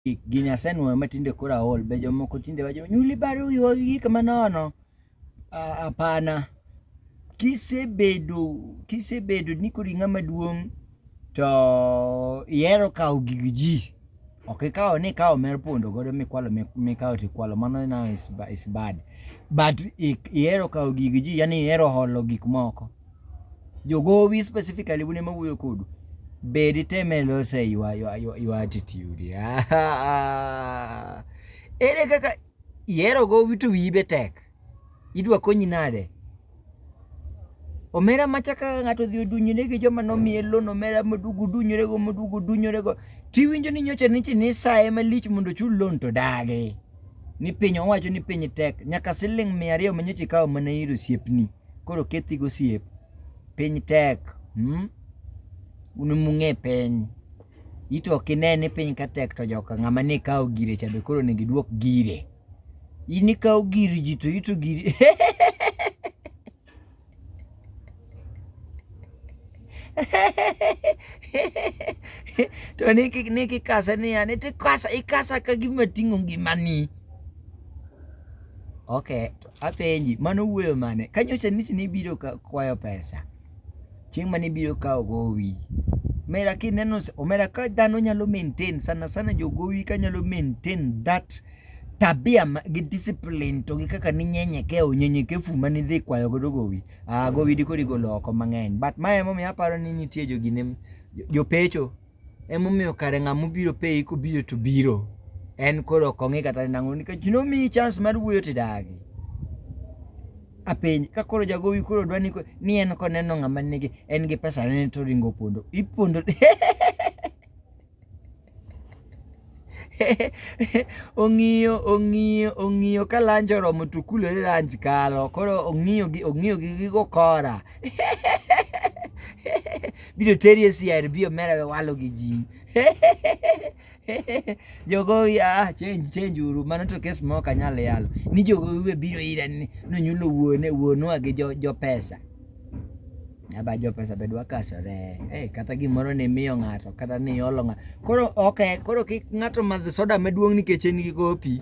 gini asenwoyo ma tinde koro aol be jomoko tinde wacho nyuli baro wiwa gi gik manono apana kisebedo kisebedo ni koro ing'ama duong' to ihero kawo gig ji ok ikawo ni ikawo mer pondo godo mikwalo mikawo tikwalo mano now is bad but ihero kawo gig ji yani ihero holo gik moko Jogowi specifically un ema wuoyo kodu. Be ditem e loso e your, your, your, your attitude? Ere kaka ihero gowi to wiyi be tek? Idwa konyi nade? omera macha kaka ng'ato odhi odunyore gi joma nomiye loan omera moduogo odunyorego moduogo odunyorego tiwinjo ni nyocha nichi ni saye malich mondo ochul loan to dagi ni piny owacho ni piny tek nyaka siling mia ariyo ma nyocha ikawo mana ir osiepni Koro kethi gosiep. Piny tek. Mmh. Un mung'e piny. Ito ok ine ni piny ka tek to joka ng'ama ne kawo gire cha be koro onego iduok gire. In ikawo gir ji to ito giri. to niki niki kasa ni ya niti kasa ikasa ka gima ting'o ngimani. Okay. Apenji, mano wuoyo mane? Ka nyocha nisi ni ibiro kwayo pesa, chieng' mane ibiro kawo gowi. Omera kineno, omera ka dhano nyalo maintain, sana sana jogowi ka nyalo maintain that tabia gi discipline to gi kaka ninyenyeke o nyenyekefu ma nidhi kwayo godo gowi ah, gowi dikodi golo oko mang'eny but ma emomiyo aparo ni nitie jogine jopecho Emomiyo kare ng'ama obiro peyi kobiro to biro. En koro ok ong'i kata nang'o nikech nomiyi chance mar wuoyo to idagi. Apenji ka koro jagowi koro dwa ni ni en koneno ng'ama nigi en gi pesa ne to oringo opondo. Ipondo ong'iyo ong'iyo ong'iyo ka lanji oromo to kulore lanji kalo koro ong'iyo gi ong'iyo gi gigo kora biro teri e CRB omera we walo gi ji jogowi ah change change uru mano to kes mok anyal yalo ni jogowi we biro ira ni nonyulo wuone wuonwa gi jo, jo pesa aba jopesa be dwa kasore hey, eh, kata gimoro ni miyo ng'ato kata ni iolo ng'ato koro okay, koro kik ng'ato madh soda maduong' nikech en gi kopi